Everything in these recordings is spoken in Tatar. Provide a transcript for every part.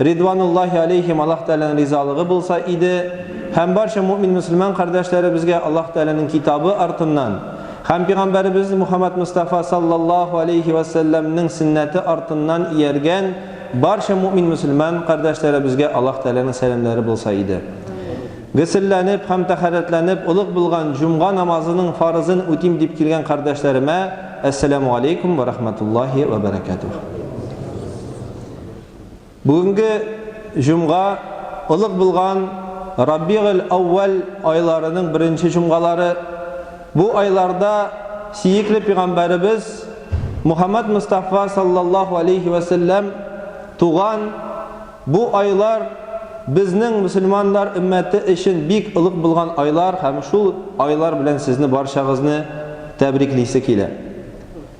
Ридвануллаһи алейһим Аллаһ Тәгаләнең ризалыгы булса иде, һәм барча мөэмин-мөселман кардәшләребезгә Аллаһ Тәгаләнең Китабы артыннан һәм Пигамбәребез Мухаммәд Мостафа саллаллаһу алейһи вә сәлләмнең сөннәте артыннан ияргән барча мөэмин-мөселман кардәшләребезгә Аллаһ Тәгаләнең сәламнәре булса иде. Гөселләнеп һәм тәһарәтләнеп олуг булган җомга намазының фарызын үтим дип килгән кардәшләремә, Әссәләмү алейкүм вә рахмәтуллаһи вә бәрәкәтүһ. Бүгенге җомга олуг булган Рабигель-әүвәл айларының беренче җомгалары. Бу айларда Сиекле пигамбәребез Мухаммәд Мостафа саллаллаһу алейһи вә сәлләм туган. Бу айлар безнең мөселманнар өммәте өчен бик олуг булган айлар һәм шул айлар белән сезне барчагызны тәбриклисе килә.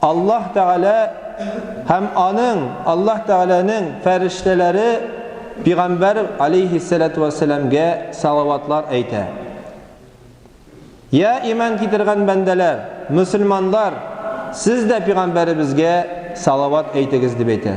Аллаһ Тәгалә һәм Аның, Аллаһ Тәгаләнең, фәрештәләре пигамбәр, аләйһиссәләтү вәссәламгә салаватлар әйтә. Йә, иман китергән бәндәләр, мөселманлар, сез дә пигамбәребезгә салават әйтегез, дип әйтә.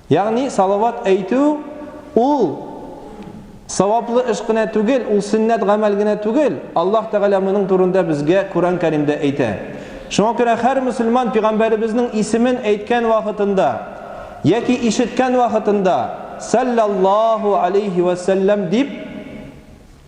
Ягъни, салават әйтү, ул саваплы эш кенә түгел, ул сөннәт гамәл генә түгел, Аллаһ Тәгалә моның турында безгә Коръән Кәримдә әйтә. Шуңа күрә һәр мөселман пигамбәребезнең исемен әйткән вакытында яки ишеткән вакытында, Салләллаһу алейһи вә сәлләм дип,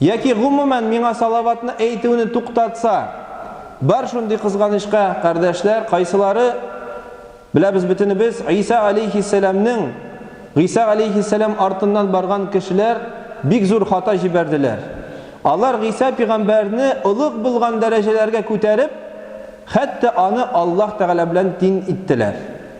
Яки, гомумән, миңа салаватны әйтүне туктатса. Бар шундый кызганычка, кардәшләр, кайсылары, беләбез бөтенебез, Гыйса аләйһиссәламнең, Гыйса аләйһиссәлам артыннан барган кешеләр бик зур хата җибәрделәр. Алар Гыйса пигамбәрне олуг булган дәрәҗәләргә күтәреп, хәтта аны Аллаһ Тәгалә белән тиң иттеләр.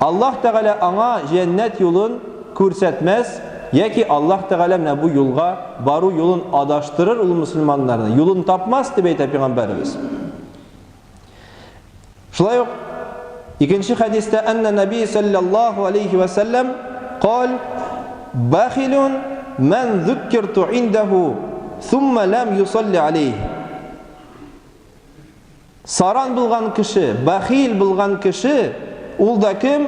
Аллаһ Тәгалә аңа җәннәт юлын күрсәтмәс, яки Аллаһ Тәгалә менә бу юлга бару юлын адаштырыр ул мөселманнарны, юлын тапмас, дип әйтә пәйгамбәребез. Шулай ук икенче хәдистә Әннә Нәби сәлләллаһу алейһи вә сәлләм кал бахилун мән зуккирту индәһу сумма ләм юсалли алейһи. Саран булган кеше, бәхил булган кеше, ул да кем?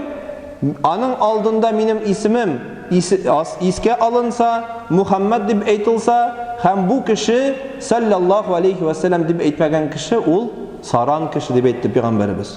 Аның алдында минем исемем искә алынса, Мухәммәд дип әйтылса, һәм бу кеше, сәлләллаһу алейһи вә сәлләм дип әйтмәгән кеше, ул саран кеше дип әйтте Пәйгамбәребез.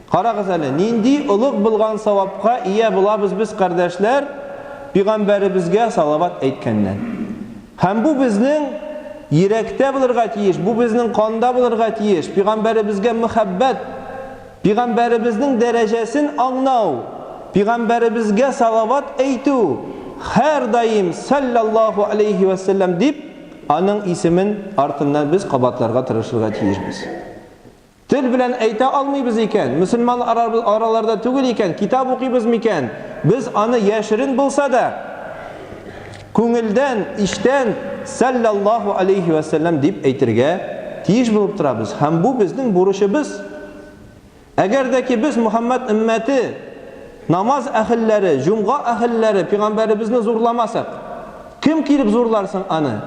Карагыз әле, нинди олуг булган савапка ия булабыз без, кардәшләр, пигамбәребезгә салават әйткәннән. Һәм бу безнең йөрәктә булырга тиеш, бу безнең канда булырга тиеш, пигамбәребезгә мөхәббәт, пигамбәребезнең дәрәҗәсен аңнау, пигамбәребезгә салават әйтү, һәрдаим салләллаһу алейһи вә сәлләм дип, аның исемен артыннан без кабатларга тырышырга тиешбез. Тел белән әйтә алмыйбыз икән, мөселман араларда түгел икән, китап укыйбыз микән? Без аны яшерен булса да, күңелдән, эчтән Сәлләллаһу алейһи вә сәлләм дип әйтергә тиеш булып торабыз. Һәм бу безнең бурычыбыз. Әгәр дә ки без Мөхәммәд өммәте, намаз әһелләре, җомга әһелләре пигамбәребезне зурламасак, кем килеп зурлар соң аны?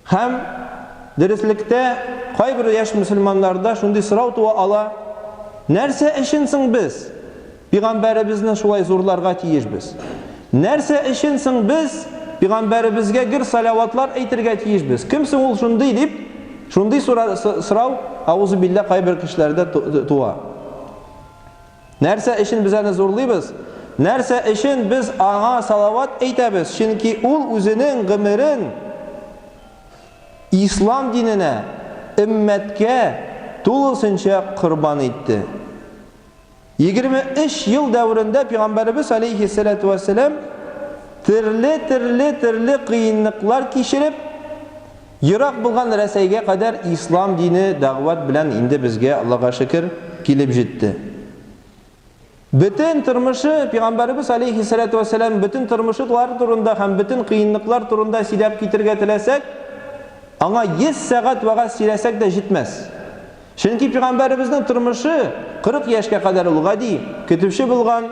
Һәм, дөреслектә, кайбер яшь мөселманнарда шундый сорау туа ала, Нәрсә өчен соң без пигамбәребезне шулай зурларга тиешбез? Нәрсә өчен соң без пигамбәребезгә гөр саләватлар әйтергә тиешбез? Кем соң ул шундый дип, шундый сорау, аузубилля, кайбер кешеләрдә туа. Нәрсә өчен без аны зурлыйбыз? Нәрсә өчен без аңа салават әйтәбез? Чөнки ул үзенең гомерен ислам диненә, өммәткә тулысынча корбан итте. Егерме өч ел дәверендә пигамбәребез, аләйһиссәләтү вәссәлам, төрле-төрле-төрле кыенлыклар кичереп, Ерак булган Рәсәйгә кадәр ислам дине дәгъват белән инде безгә, Аллага шөкер, килеп җитте. Бөтен тормышы, Пигамбәребез алейһиссәләтү вәссәлам бөтен тормышлар турында һәм бөтен кыенлыклар турында сөйләп китергә теләсәк, аңа йөз сәгать вәгазь сөйләсәк тә җитмәс. Чөнки пигамбәребезнең тормышы 40 яшькә кадәр ул гади, көтүче булган,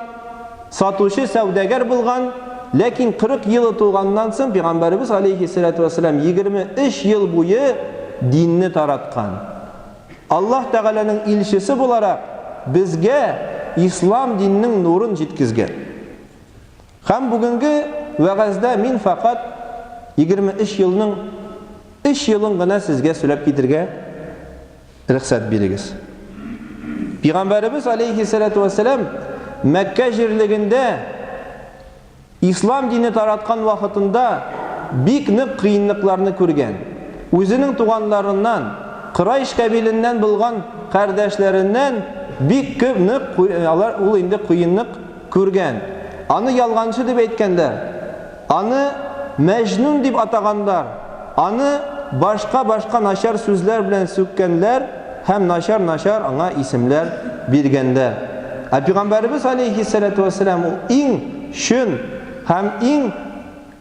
сатучы, сәүдәгәр булган, ләкин 40 елы тулганнан соң пигамбәребез галәйһиссәләтү вәссәлам 23 ел буе динне тараткан. Аллаһ Тәгаләнең илчесе буларак безгә ислам диненең нурын җиткезгән. Һәм бүгенге вәгазьдә мин фәкать егерме өч елның өч елын гына сезгә сөйләп китергә рөхсәт бирегез. Пигамбәребез алейһиссәләтү вәссәлам Мәккә җирлегендә Ислам дине тараткан вакытында бик нык кыенлыкларны күргән. Үзенең туганларыннан, Корайш кабиленнән булган кардәшләреннән бик күп нык алар ул инде кыенлык Күргән. Аны ялганчы дип әйткәннәр. Аны Мәҗнүн дип атаганнар. Аны башка-башка начар сүзләр белән сүккәннәр һәм начар-начар аңа исемләр биргәннәр. Ә Пигамбәребез аләйһиссәләтү вәссәлам ул иң чөн һәм иң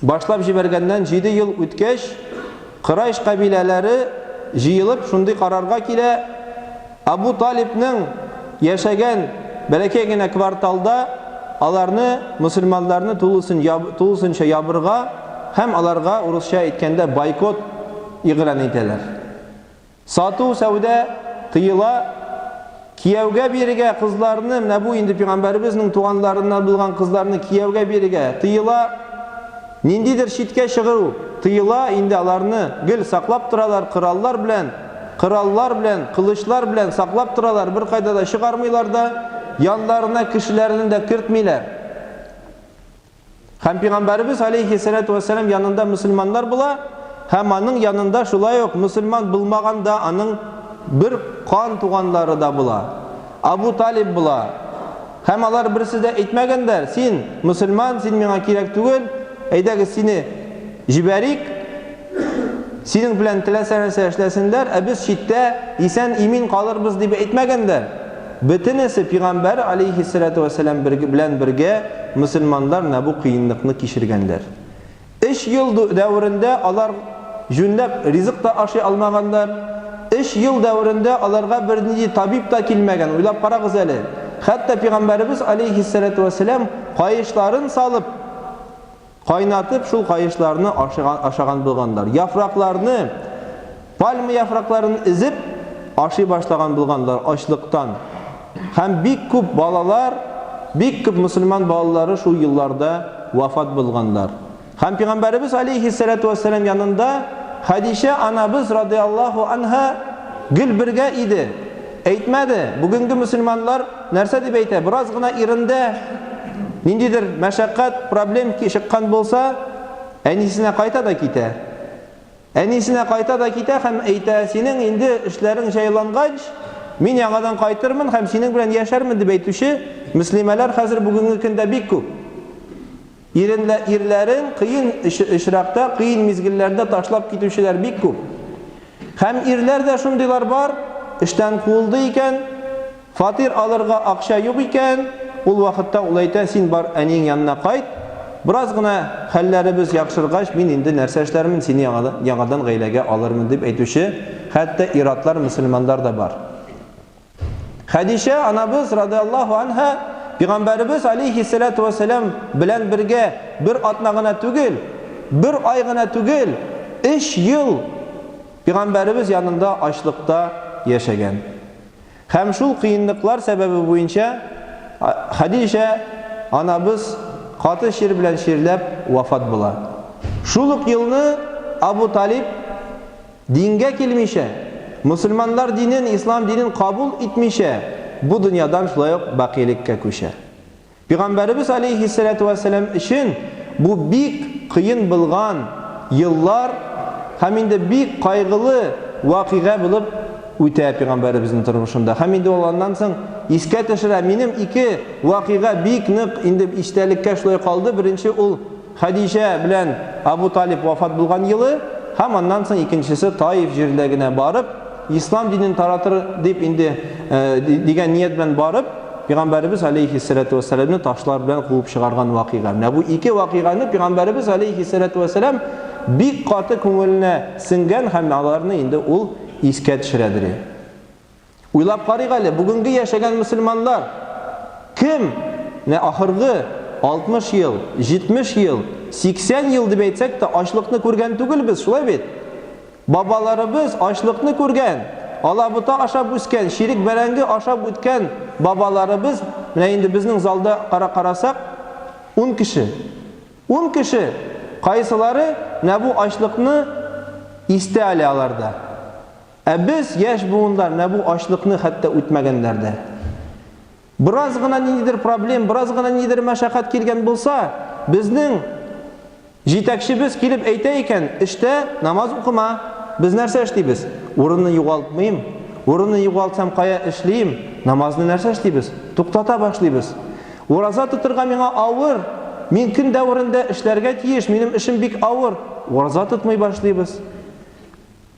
Башлап җибәргәннән җиде ел үткәч, корайш кабиләләре җыелып шундый карарга килә, Абу Талибның яшәгән бәләкәй генә кварталда аларны, мөселманнарны тулысынча ябырга һәм аларга, урысча әйткәндә, бойкот игълан итәләр. Сату-сәүдә тыела, кияүгә бирергә кызларны, менә бу инде Пигамбәребезнең туганларыннан булган кызларны кияүгә бирергә тыела, ниндидер читкә чыгыру тыела, инде аларны гел саклап торалар, кораллар белән, кораллар белән, кылычлар белән саклап торалар, беркайда да чыгармыйлар да, яннарына кешеләрен дә кертмиләр. Һәм Пигамбәребез алейхиссалату вәссәлам янында мөселманнар була, һәм аның янында шулай ук мөселман булмаган да, аның бер кан туганлары да була, Абу Талиб була. Һәм алар берсе дә әйтмәгәннәр, Син, мөселман, син миңа кирәк түгел, әйдәгез, сине җибәрик. Синең белән теләсә нәрсә эшләсеннәр, ә без читтә исән-имин калырбыз дип әйтмәгәндә, бөтенесе пигамбәр алейһиссәләтү вәссәлам белән бергә мөселманнар менә бу кыенлыкны кичергәннәр. Өч ел дәверендә алар җүнләп ризык та ашый алмаганнар, өч ел дәверендә аларга бернинди табиб та килмәгән, уйлап карагыз әле. Хәтта пигамбәребез алейһиссәләтү вәссәлам каешларын салып, Кайнатып шул каешларны ашыган ашаган булганнар. Яфракларны, пальма яфракларын эзеп, ашый башлаган булганнар ачлыктан. Һәм бик күп балалар, бик күп мөселман балалары шул елларда вафат булганнар. Һәм Пигамбәребез алейһиссәләтү вәссәлам янында Хәдичә анабыз радый Аллаһу анһа гел бергә иде. Әйтмәде, бүгенге мөселманнар, Нәрсә дип әйтә? Бераз гына ирендә ниндидер мәшәкать, проблем чыккан булса, әнисенә кайта да китә. Әнисенә кайта да китә һәм әйтә, синең инде эшләрең җайлангач, мин яңадан кайтырмын һәм синең белән яшәрмен дип әйтүче мөслимәләр хәзер бүгенге көндә бик күп. Иренләрен кыен очракта, кыен мизгелләрдә ташлап китүчеләр бик күп. Һәм ирләр дә шундыйлар бар, эштән куылды икән, фатир алырга акча юк икән, ул вакытта ул әйтә, син бар әниең янына кайт, бераз гына хәлләребез яхшыргач, мин инде нәрсә эшләрмен, сине яңадан гаиләгә алырмын, дип әйтүче хәтта ир-атлар, мөселманнар да бар. Хәдичә анабыз, радыяллаһу анһа, Пигамбәребез, алейһиссәләтү вәссәлам, белән бергә бер атна гына түгел, бер ай гына түгел, өч ел Пигамбәребез янында ачлыкта яшәгән. Һәм шул кыенлыклар сәбәбе буенча Хәдичә анабыз каты чир белән чирләп вафат була. Шул ук елны Абу Талиб, Дингә килмичә, мөселманнар динен, ислам динен кабул итмичә, бу дөньядан шулай ук бакилеккә күчә. Пигамбәребез алейһиссәләтү вәссәлам өчен бу бик кыен булган еллар һәм инде бик кайгылы вакыйга булып үтә пигамбәребезнең тормышында. Һәм инде ул аннан соң искә төшерә, Минем ике вакыйга бик нык инде истәлеккә шулай калды, беренче ул, Хәдичә белән Абу Талиб вафат булган елы һәм аннан соң икенчесе Таиф җиренә генә барып, ислам динен таратыр дип инде дигән ният белән барып, Пигамбәребез галәйһиссәләтү вәссәламне ташлар белән куып чыгарган вакыйга. Менә бу ике вакыйганы Пигамбәребез галәйһиссәләтү вәссәлам бик каты күңеленә сеңгән һәм аларны инде ул искә төшерәдери. Уйлап карыйк әле, бүгенге яшәгән мөселманнар кем? Менә ахыргы 60 ел, 70 ел, 80 ел дип әйтсәк тә, ачлыкны күргән түгел без, шулай бит? Бабаларыбыз ачлыкны күргән, алабута ашап үскән, чирек бәрәңге ашап үткән бабаларыбыз, менә инде безнең залда кара карасак, ун кеше. Ун кеше! Кайсылары менә бу ачлыкны истә әле аларда? Ә без, яшь буынлар, менә бу ачлыкны хәтта үтмәгәннәр дә. Бераз гына ниндидер проблем, бераз гына ниндидер мәшәкать килгән булса, безнең җитәкчебез килеп әйтә икән, эштә намаз укыма. Без нәрсә эшлибез? Урынны югалтмыйм, урынны югалтсам кая эшлим? Намазны нәрсә эшлибез? Туктата башлыйбыз. Ураза тотырга миңа авыр, мин көн дәверендә эшләргә тиеш, минем эшем бик авыр. Ураза тотмый башлыйбыз.